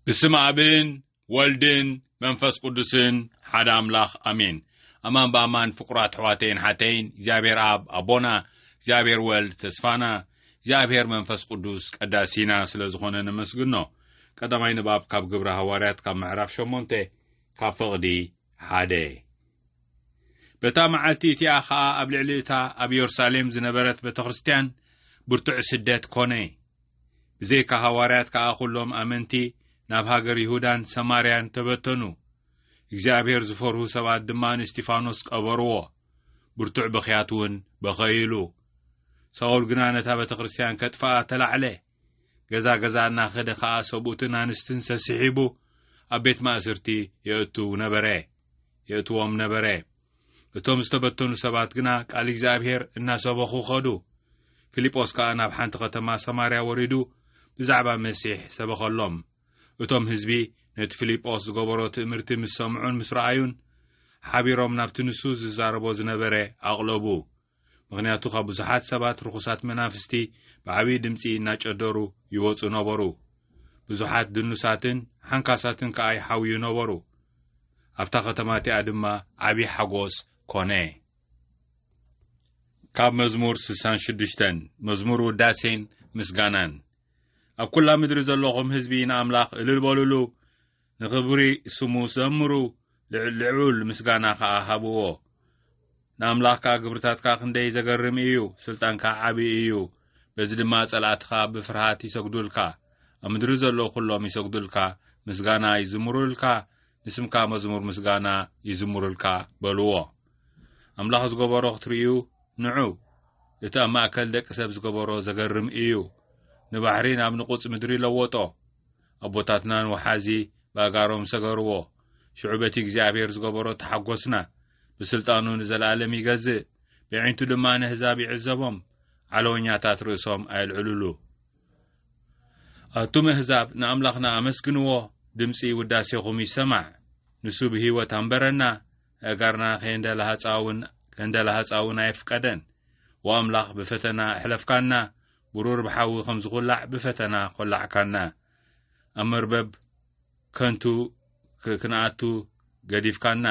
ብስም ኣብን ወልድን መንፈስ ቅዱስን ሓደ ኣምላኽ ኣሜን። ኣማን ብኣማን ፍቁራት ኣሕዋተይን ሓተይን እግዚኣብሔር ኣብ ኣቦና እግዚኣብሔር ወልድ ተስፋና እግዚኣብሔር መንፈስ ቅዱስ ቀዳሲና ስለ ዝኾነ ነመስግኖ። ቀዳማይ ንባብ ካብ ግብረ ሃዋርያት ካብ ምዕራፍ ሸሞንተ ካብ ፍቕዲ ሓደ በታ መዓልቲ እቲኣ ኸኣ ኣብ ልዕሊ እታ ኣብ የሩሳሌም ዝነበረት ቤተ ክርስትያን ብርቱዕ ስደት ኮነ። ብዘይካ ሃዋርያት ከኣ ዅሎም ኣመንቲ ናብ ሃገር ይሁዳን ሰማርያን ተበተኑ። እግዚኣብሄር ዝፈርሁ ሰባት ድማ ንእስጢፋኖስ ቀበርዎ፣ ብርቱዕ ብኽያት እውን በኸይሉ። ሳውል ግና ነታ ቤተ ክርስትያን ኬጥፍኣ ተላዕለ። ገዛ ገዛ እናኸደ ኸኣ ሰብኡትን ኣንስትን ሰሲሒቡ ኣብ ቤት ማእስርቲ የእቱ ነበረ የእትዎም ነበረ። እቶም ዝተበተኑ ሰባት ግና ቃል እግዚኣብሄር እናሰበኹ ኸዱ። ፊልጶስ ከኣ ናብ ሓንቲ ኸተማ ሰማርያ ወሪዱ ብዛዕባ መሲሕ ሰበኸሎም። እቶም ህዝቢ ነቲ ፊልጶስ ዝገበሮ ትእምርቲ ምስ ሰምዑን ምስ ረኣዩን፣ ሓቢሮም ናብቲ ንሱ ዝዛረቦ ዝነበረ ኣቕለቡ። ምኽንያቱ ካብ ብዙሓት ሰባት ርኹሳት መናፍስቲ ብዓብዪ ድምጺ እናጨደሩ ይወጹ ነበሩ። ብዙሓት ድኑሳትን ሓንካሳትን ከኣ ይሓውዩ ነበሩ። ኣብታ ኸተማ እቲኣ ድማ ዓብዪ ሓጎስ ኮነ። ካብ መዝሙር ስሳን ሽዱሽተን መዝሙር ውዳሴን ምስጋናን። ኣብ ኵላ ምድሪ ዘለኹም ህዝቢ ንኣምላኽ እልል በሉሉ፣ ንኽብሪ ስሙ ዘምሩ፣ ልዑል ምስጋና ኸኣ ሃብዎ። ንኣምላኽካ ግብርታትካ ክንደይ ዘገርም እዩ፣ ስልጣንካ ዓቢ እዩ። በዚ ድማ ጸላእትኻ ብፍርሃት ይሰግዱልካ፣ ኣብ ምድሪ ዘለዉ ዅሎም ይሰግዱልካ፣ ምስጋና ይዝምሩልካ፣ ንስምካ መዝሙር ምስጋና ይዝምሩልካ በልዎ። ኣምላኽ ዝገበሮ ክትርእዩ ንዑ፣ እቲ ኣብ ማእከል ደቂ ሰብ ዝገበሮ ዘገርም እዩ። ንባሕሪ ናብ ንቑጽ ምድሪ ለወጦ። ኣቦታትናን ወሓዚ ባጋሮም ሰገርዎ ሽዑ በቲ እግዚኣብሔር ዝገበሮ ተሓጎስና ብስልጣኑ ንዘለኣለም ይገዝእ ብዒንቱ ድማ ነህዛብ ይዕዘቦም ዓለወኛታት ርእሶም ኣየልዕልሉ ኣቱም ኣህዛብ ንኣምላኽና ኣመስግንዎ ድምፂ ውዳሴኹም ይሰማዕ ንሱ ብህይወት ኣንበረና ኣእጋርና ከየንደላሃፃውን ከንደላሃፃውን ኣየፍቀደን ወኣምላኽ ብፈተና ኣሕለፍካና ብሩር ብሓዊ ከም ዝኹላዕ ብፈተና ኾላዕካና። ኣብ መርበብ ከንቱ ክንኣቱ ገዲፍካና።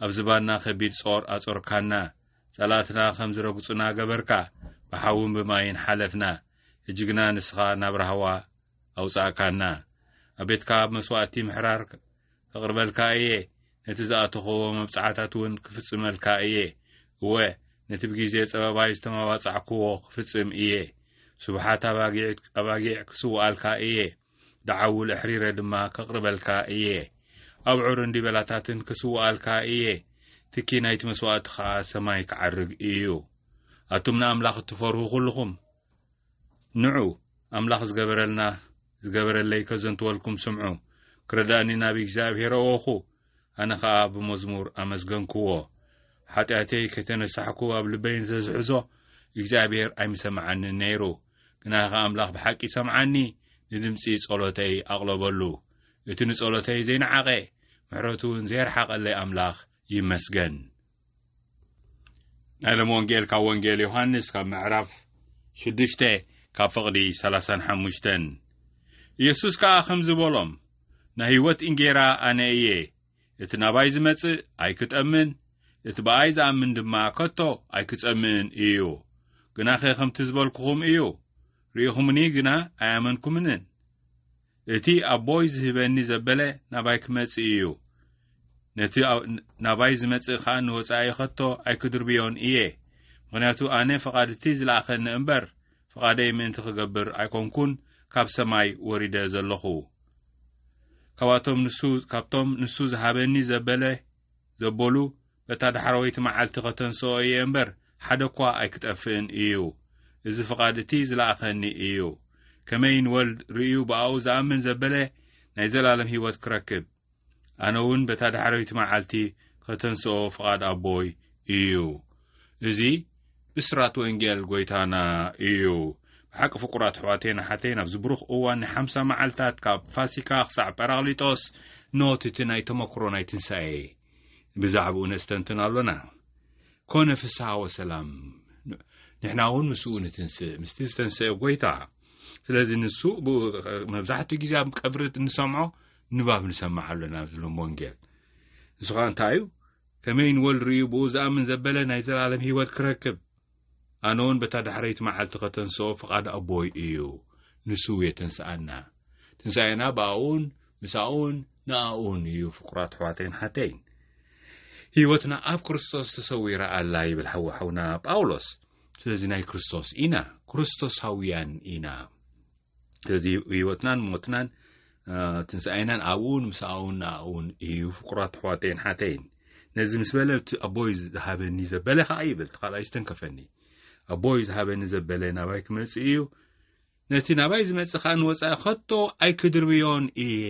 ኣብ ዝባንና ከቢድ ጾር ኣጾርካና። ጸላእትና ከም ዝረግጹና ገበርካ። ብሓውን ብማይን ሓለፍና። ሕጂ ግና ንስኻ ናብ ራህዋ ኣውጻእካና። ኣብ ቤትካ ኣብ መስዋእቲ ምሕራር ከቕርበልካ እየ። ነቲ ዝኣተኸዎ መብጽዓታት እውን ክፍጽመልካ እየ፣ እወ፣ ነቲ ብጊዜ ጸበባይ ዝተመባጻዕኩዎ ክፍጽም እየ። ስቡሓት ኣባጊዕት ኣባጊዕ ክስውኣልካ እየ፣ ደዓውል ኣሕሪረ ድማ ከቕርበልካ እየ። ኣብዑርን ዲበላታትን ክስውኣልካ እየ፣ ትኪ ናይቲ መስዋእቲ ኸኣ ሰማይ ክዓርግ እዩ። ኣቱም ንኣምላኽ እትፈርሁ ዅልኹም፣ ንዑ ኣምላኽ ዝገበረልና ዝገበረለይ ከዘንትወልኩም ስምዑ። ክረዳእኒ ናብ እግዚኣብሔር ኣወኹ፣ ኣነ ኸኣ ብመዝሙር ኣመስገንክዎ። ሓጢኣተይ ከይተነሳሕኩ ኣብ ልበይ እንተ ዝሕዞ፣ እግዚኣብሔር ኣይምሰምዓንን ነይሩ። ግናኸ ኣምላኽ ብሓቂ ሰምዓኒ፣ ንድምጺ ጸሎተይ ኣቕለበሉ። እቲ ንጸሎተይ ዘይነዓቐ፣ ምሕረቱ እውን ዘየርሓቐለይ ኣምላኽ ይመስገን። ናይ ሎም ወንጌል ካብ ወንጌል ዮሃንስ ካብ ምዕራፍ ሽዱሽተ ካብ ፍቕዲ ሰላሳን ሓሙሽተን ኢየሱስ ከኣ ከምዚ በሎም ናይ ህይወት እንጌራ ኣነ እየ እቲ ናባይ ዝመጽእ ኣይክጠምን እቲ ብኣይ ዝኣምን ድማ ከቶ ኣይክጸምእን እዩ ግናኸ ከምቲ ዝበልኩኹም እዩ ርኢኹምኒ ግና ኣያመንኩምንን እቲ ኣቦይ ዝህበኒ ዘበለ ናባይ ክመጽእ እዩ፣ ነቲ ናባይ ዝመጽእ ከኣ ንወጻኢ ኸቶ ኣይክድርብዮን እየ፣ ምኽንያቱ ኣነ ፍቓድ እቲ ዝለኣኸኒ እምበር፣ ፍቓደይ ምእንቲ ኽገብር ኣይኰንኩን ካብ ሰማይ ወሪደ ዘሎኹ። ካብኣቶም ንሱ ካብቶም ንሱ ዝሃበኒ ዘበለ ዘበሉ በታ ዳሕረወይቲ መዓልቲ ኸተንሥኦ እየ እምበር፣ ሓደ እኳ ኣይኪጠፍእን እዩ። እዚ ፍቓድ እቲ ዝለኣኸኒ እዩ። ከመይ ንወልድ ርእዩ ብኣኡ ዝኣምን ዘበለ ናይ ዘለኣለም ህይወት ኪረክብ፣ ኣነውን በታ ዳሕረወይቲ መዓልቲ ኸተንሥኦ ፍቓድ ኣቦይ እዩ። እዚ ብሥራት ወንጌል ጐይታና እዩ። ብሓቂ ፍቁራት ኣሕዋተይን ኣሓተይን ኣብዚ ብሩኽ እዋን ናይ ሓምሳ መዓልታት ካብ ፋሲካ ክሳዕ ጰራቅሊጦስ ኖት እቲ ናይ ተመክሮ ናይ ትንሣኤ ብዛዕባኡ ነስተንትን ኣሎና። ኮነ ፍስሓ ወሰላም ንሕና እውን ምስኡ ንትንስእ ምስቲ ዝተንስአ ጎይታ ስለዚ ንሱ መብዛሕትኡ ግዜ ኣብ ቀብሪ እንሰምዖ ንባብ ንሰምዕ ኣሎና ኣብዚ ሎም ወንጌል ንሱ ከዓ እንታይ እዩ ከመይ ንወል ርእዩ ብኡ ዝኣምን ዘበለ ናይ ዘለኣለም ህይወት ክረክብ ኣነውን በታ ዳሕረይቲ መዓልቲ ከተንስኦ ፍቓድ ኣቦይ እዩ፣ ንሱ የተንስኣና። ትንሳኤና ብኣኡን ምሳኡን ንኣኡን እዩ ፍቁራት ኣሕዋተይን ሓተይን። ህይወትና ኣብ ክርስቶስ ተሰዊራ ኣላ ይብል ሓው ሓውና ጳውሎስ። ስለዚ ናይ ክርስቶስ ኢና፣ ክርስቶሳውያን ኢና። ስለዚ ህይወትናን ሞትናን ትንሳኤናን ኣብኡን ምስኣኡን ንኣኡን እዩ ፍቁራት ኣሕዋተይን ሓተይን ነዚ ምስ በለ እቲ ኣቦይ ዝሃበኒ ዘበለ ከዓ ይብል እቲ ካልኣይ ዝተንከፈኒ ኣቦይ ዝሃበኒ ዘበለ ናባይ ክመፅእ እዩ ነቲ ናባይ ዝመፅእ ከዓ ንወፃኢ ከቶ ኣይክድርብዮን እየ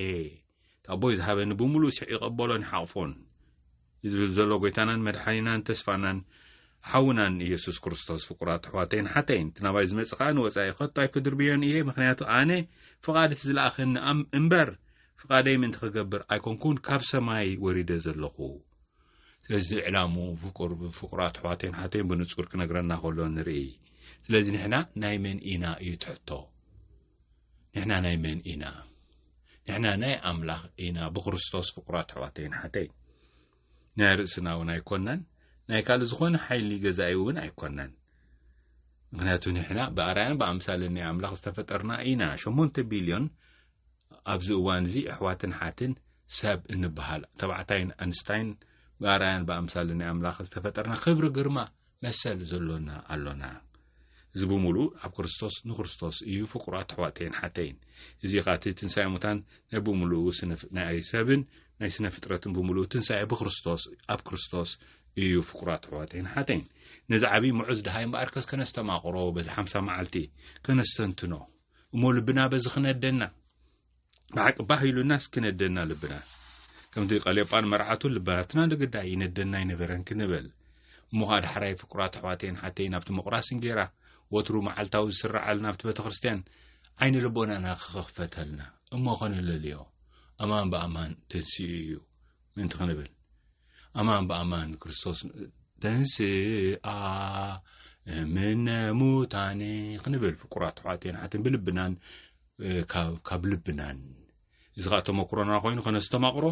ኣቦይ ዝሃበኒ ብምሉእ ስዕ ይቐበሎን ይሓቕፎን። ዝብል ዘሎ ጎይታናን መድሓኒናን ተስፋናን ሓውናን ኢየሱስ ክርስቶስ ፍቁራት ኣሕዋተይን ሓተይን እቲ ናባይ ዝመጽእ ከኣ ንወጻኢ ከቶ ኣይክድርብዮን እየ ምክንያቱ ኣነ ፍቓድ እቲ ዝለኣኸኒ ኣም እምበር ፍቓደይ ምእንቲ ክገብር ኣይኮንኩን ካብ ሰማይ ወሪደ ዘለኹ ስለዚ ዕላሙ ፍቁር ፍቁራት ኣሕዋተይን ሓተይን ብንጹር ክነግረና ከሎ ንርኢ ስለዚ ንሕና ናይ መን ኢና እዩ ትሕቶ ንሕና ናይ መን ኢና ንሕና ናይ ኣምላኽ ኢና ብክርስቶስ ፍቁራት ኣሕዋተይን ሓተይ ናይ ርእስና እውን ኣይኮናን ናይ ካልእ ዝኾነ ሓይሊ ገዛኢ እውን ኣይኮናን ምክንያቱ ንሕና ብኣርኣያን ብኣምሳልን ናይ ኣምላኽ ዝተፈጠርና ኢና ሸሞንተ ቢልዮን ኣብዚ እዋን እዚ ኣሕዋትን ሓትን ሰብ እንበሃል ተባዕታይን ኣንስታይን ብኣርኣያን ብኣምሳልን ናይ ኣምላኽ ዝተፈጠርና ክብሪ ግርማ መሰል ዘሎና ኣሎና። እዚ ብምሉእ ኣብ ክርስቶስ ንክርስቶስ እዩ ፍቁራት ኣሕዋተይን ሓተይን። እዚ ኸኣ እቲ ትንሳኤ ሙታን ናይ ብምሉኡ ናይ ሰብን ናይ ስነ ፍጥረትን ብምሉኡ ትንሳኤ ብክርስቶስ ኣብ ክርስቶስ እዩ ፍቁራት ኣሕዋተይን ሓተይን። ነዚ ዓብዪ ምዑዝ ድሃይ እምበኣርከስ ከነስተማቕሮ በዚ ሓምሳ መዓልቲ ከነስተንትኖ እሞ ልብና በዚ ክነደና ብሓቂ ባህ ኢሉናስ ክነደና ልብና ከምቲ ቀሌጳን መርዓቱ ልባትና ንግዳይ ይነደና ይነበረን ክንበል እሞ ኸኣ ዳሕራይ ፍቁራት ኣሕዋተይን ሓተይ ናብቲ ምቑራስ እንጌራ ወትሩ መዓልታዊ ዝስረዓል ናብቲ ቤተ ክርስትያን ዓይኒ ልቦናና ክኽፈተልና እሞ ኸንለልዮ ኣማን ብኣማን ተንስኡ እዩ ምእንቲ ክንብል ኣማን ብኣማን ክርስቶስ ተንስኣ እምነ ሙታን ክንብል ፍቁራት ኣሕዋተይን ሓተይን ብልብናን ካብ ልብናን እዚ ኸዓ ተመክሮና ኮይኑ ከነስተማቕሮ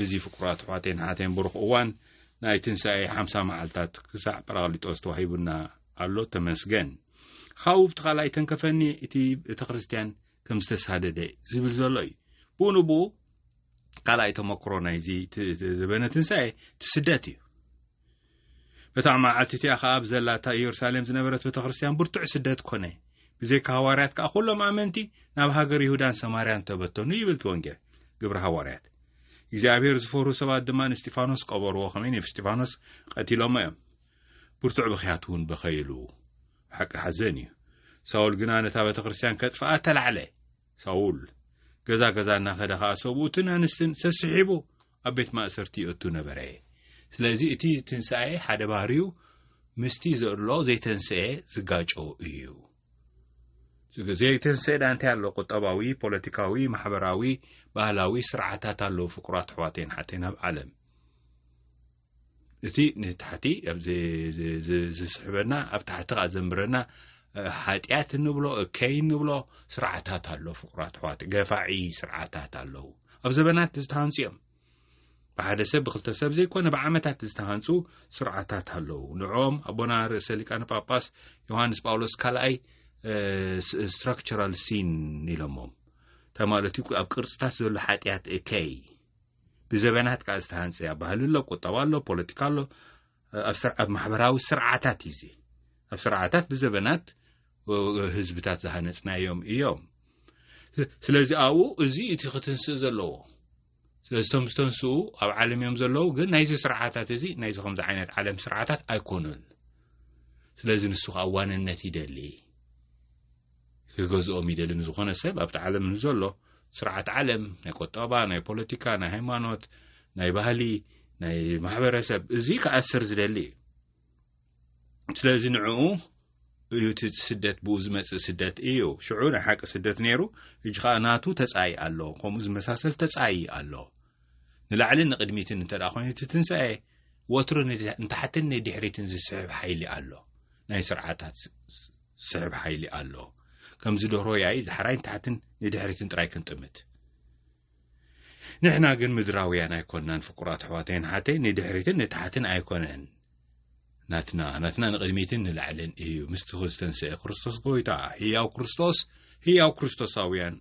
እዚ ፍቁራት ኣሕዋተይን ሓተይን ብሩኽ እዋን ናይ ትንሳኤ ሓምሳ መዓልታት ክሳዕ ጰራቅሊጦስ ተዋሂቡና ኣሎ ተመስገን ካብኡ ብቲ ካልኣይ ተንከፈኒ እቲ ቤተ ክርስትያን ከም ዝተሳደደ ዝብል ዘሎ እዩ ብኡ ንብኡ ካልኣይ ተመክሮ ናይዚ ዘበነ ትንሳኤ እቲ ስደት እዩ በታ መዓልቲ እቲኣ ኸኣ ኣብ ዘላ እታ ኢየሩሳሌም ዝነበረት ቤተ ክርስትያን ብርቱዕ ስደት ኮነ። ብዘይካ ሃዋርያት ከኣ ኩሎም ኣመንቲ ናብ ሃገር ይሁዳን ሰማርያን ተበተኑ ይብል እቲ ወንጌል። ግብሪ ሃዋርያት። እግዚኣብሔር ዝፈርሁ ሰባት ድማ ንእስጢፋኖስ ቀበርዎ፣ ከመይ ንእስጢፋኖስ ቀቲሎሞ እዮም። ብርቱዕ ብኽያት እውን በኸይሉ። ብሓቂ ሓዘን እዩ። ሳውል ግና ነታ ቤተ ክርስትያን ከጥፍኣ ተላዕለ። ሳውል። ገዛ ገዛ እናኸደ ኸኣ ሰብኡትን ኣንስትን ሰስሒቡ ኣብ ቤት ማእሰርቲ ይእቱ ነበረ። ስለዚ እቲ ትንሳኤ ሓደ ባህሪኡ ምስቲ ዘሎ ዘይተንሰኤ ዝጋጮ እዩ። ዘይተንሰኤ ዳ እንታይ ኣሎ ቁጠባዊ፣ ፖለቲካዊ፣ ማሕበራዊ፣ ባህላዊ ስርዓታት ኣለዉ ፍቁራት ኣሕዋተይን ኣሓተይን ኣብ ዓለም። እቲ ንታሕቲ ዝስሕበና ኣብ ታሕቲ ካ ዘንብረና ሓጢኣት ንብሎ እከይ ንብሎ ስርዓታት ኣሎ ፍቁራት ኣሕዋት ገፋዒ ስርዓታት ኣለዉ ኣብ ዘበናት ዝተሃንፁ እዮም ብሓደ ሰብ ብክልተ ሰብ ዘይኮነ ብዓመታት ዝተሃንፁ ስርዓታት ኣለዉ ንዕኦም ኣቦና ርእሰ ሊቃነ ጳጳስ ዮሃንስ ጳውሎስ ካልኣይ ስትራክቸራል ሲን ኢሎሞም እንታይ ማለት እዩ ኣብ ቅርፅታት ዘሎ ሓጢኣት እከይ ብዘበናት ከኣ ዝተሃንጸ እያ ባህሊ ኣሎ ቁጠባ ኣሎ ፖለቲካ ኣሎ ኣብ ማሕበራዊ ስርዓታት እዩ እዚ ኣብ ስርዓታት ብዘበናት ህዝብታት ዝሃነጽናዮም እዮም ስለዚ ኣብኡ እዚ እቲ ክትንስእ ዘለዎ ስለዚቶም ዝተንስኡ ኣብ ዓለም እዮም ዘለዉ ግን ናይዚ ስርዓታት እዚ ናይዚ ከምዚ ዓይነት ዓለም ስርዓታት ኣይኮኑን ስለዚ ንሱ ከዓ ዋንነት ይደሊ ክገዝኦም ይደሊ ንዝኾነ ሰብ ኣብቲ ዓለም ንዘሎ ስርዓት ዓለም ናይ ቆጠባ ናይ ፖለቲካ ናይ ሃይማኖት ናይ ባህሊ ናይ ማሕበረሰብ እዚ ክኣስር ዝደሊ እዩ ስለዚ ንዕኡ እዩ እቲ ስደት ብኡ ዝመፅእ ስደት እዩ ሽዑ ናይ ሓቂ ስደት ነይሩ እጅ ከዓ ናቱ ተፃኢ ኣሎ ከምኡ ዝመሳሰል ተፃኢ ኣሎ ንላዕሊ ንቅድሚትን እንተ ኮይኑ እቲ ትንሳኤ ወትሩ ንታሕትን ንድሕሪትን ዝስሕብ ሓይሊ ኣሎ ናይ ስርዓታት ዝስሕብ ሓይሊ ኣሎ። ከምዚ ደርሆ ያኢ ዳሕራይ ንታሕትን ንድሕሪትን ጥራይ ክንጥምት። ንሕና ግን ምድራውያን ኣይኮናን ፍቁራት ኣሕዋተይን ሓተይ ንድሕሪትን ንታሕትን ኣይኮነን ናትና ናትና ንቕድሚትን ንላዕልን እዩ ምስቲ ክዝተንስአ ክርስቶስ ጎይታ ህያው ክርስቶስ ህያው ክርስቶሳውያን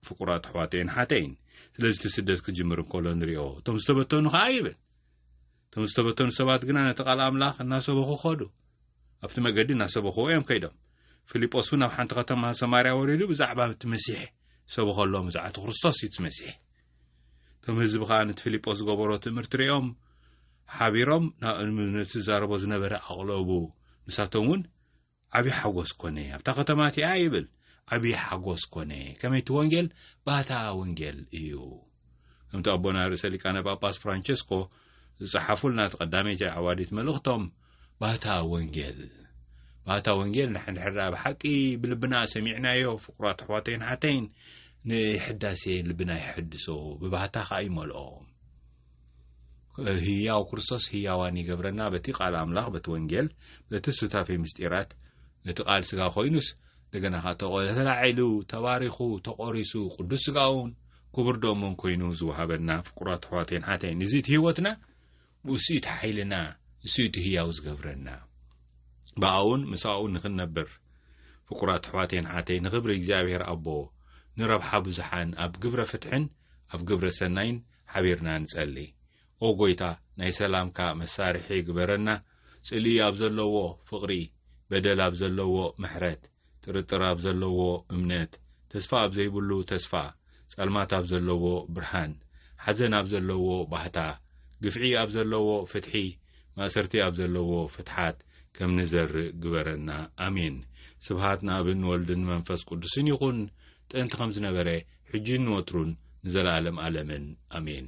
ፍቁራት ኣሕዋተይን ሓተይን ስለዚ እቲ ስደት ክጅምር እንከሎ ንሪኦ እቶም ዝተበተኑ ከዓ ይብል እቶም ዝተበተኑ ሰባት ግና ነቲ ቓል ኣምላኽ እናሰበኹ ኸዱ። ኣብቲ መገዲ እናሰበኽዎ እዮም ከይዶም። ፊልጶስ እውን ኣብ ሓንቲ ኸተማ ሰማርያ ወሪዱ ብዛዕባ እቲ መሲሕ ሰበኸሎም፣ ብዛዕባ እቲ ክርስቶስ እዩ እቲ መሲሕ። እቶም ህዝቢ ኸኣ ነቲ ፊልጶስ ዝገበሮ ትእምርቲ ርእዮም ሓቢሮም ናብኡ ንዝዛረቦ ዝነበረ ኣቕለቡ። ንሳቶም እውን ዓቢ ሓጎስ ኮነ ኣብታ ከተማ እቲኣ ይብል። ዓቢ ሓጎስ ኮነ ከመይ እቲ ወንጌል ባታ ወንጌል እዩ። ከምቲ ኣቦና ርእሰ ሊቃነ ጳጳስ ፍራንቸስኮ ዝጸሓፉልና እቲ ቀዳመይቲ ኣዕዋዲት መልእኽቶም ባታ ወንጌል ባታ ወንጌል ንሕድሕዳ ብሓቂ ብልብና ሰሚዕናዮ ፍቁራት ኣሕዋተይን ሓተይን ንሕዳሴ ልብና ይሕድሶ ብባህታ ከኣ ይመልኦ ህያው ክርስቶስ ህያዋን ይገብረና በቲ ቃል ኣምላኽ በቲ ወንጌል በቲ ሱታፌ ምስጢራት እቲ ቃል ስጋ ኮይኑስ እንደገና ከ ተላዒሉ ተባሪኹ ተቆሪሱ ቅዱስ ስጋውን ክቡር ደሙን ኮይኑ ዝወሃበና ፍቁራት ኣሕዋተይን ሓተይን እዚ እቲ ህይወትና ብእሱ እቲ ሓይልና እሱ እቲ ህያው ዝገብረና ብኣውን ምስኣኡ ንኽንነብር ፍቁራት ኣሕዋተይን ሓተይ ንኽብሪ እግዚኣብሔር ኣቦ ንረብሓ ብዙሓን ኣብ ግብረ ፍትሕን ኣብ ግብረ ሰናይን ሓቢርና ንጸሊ ኦ ጎይታ ናይ ሰላምካ መሳርሒ ግበረና ጽልኢ ኣብ ዘለዎ ፍቅሪ በደል ኣብ ዘለዎ ምሕረት ጥርጥር ኣብ ዘለዎ እምነት ተስፋ ኣብ ዘይብሉ ተስፋ ጸልማት ኣብ ዘለዎ ብርሃን ሓዘን ኣብ ዘለዎ ባህታ ግፍዒ ኣብ ዘለዎ ፍትሒ ማእሰርቲ ኣብ ዘለዎ ፍትሓት ከም ንዘርእ ግበረና ኣሜን ስብሃት ንኣብን ወልድን መንፈስ ቅዱስን ይኹን ጥንቲ ኸም ዝነበረ ሕጂን ንወትሩን ንዘለኣለም ኣለምን ኣሜን።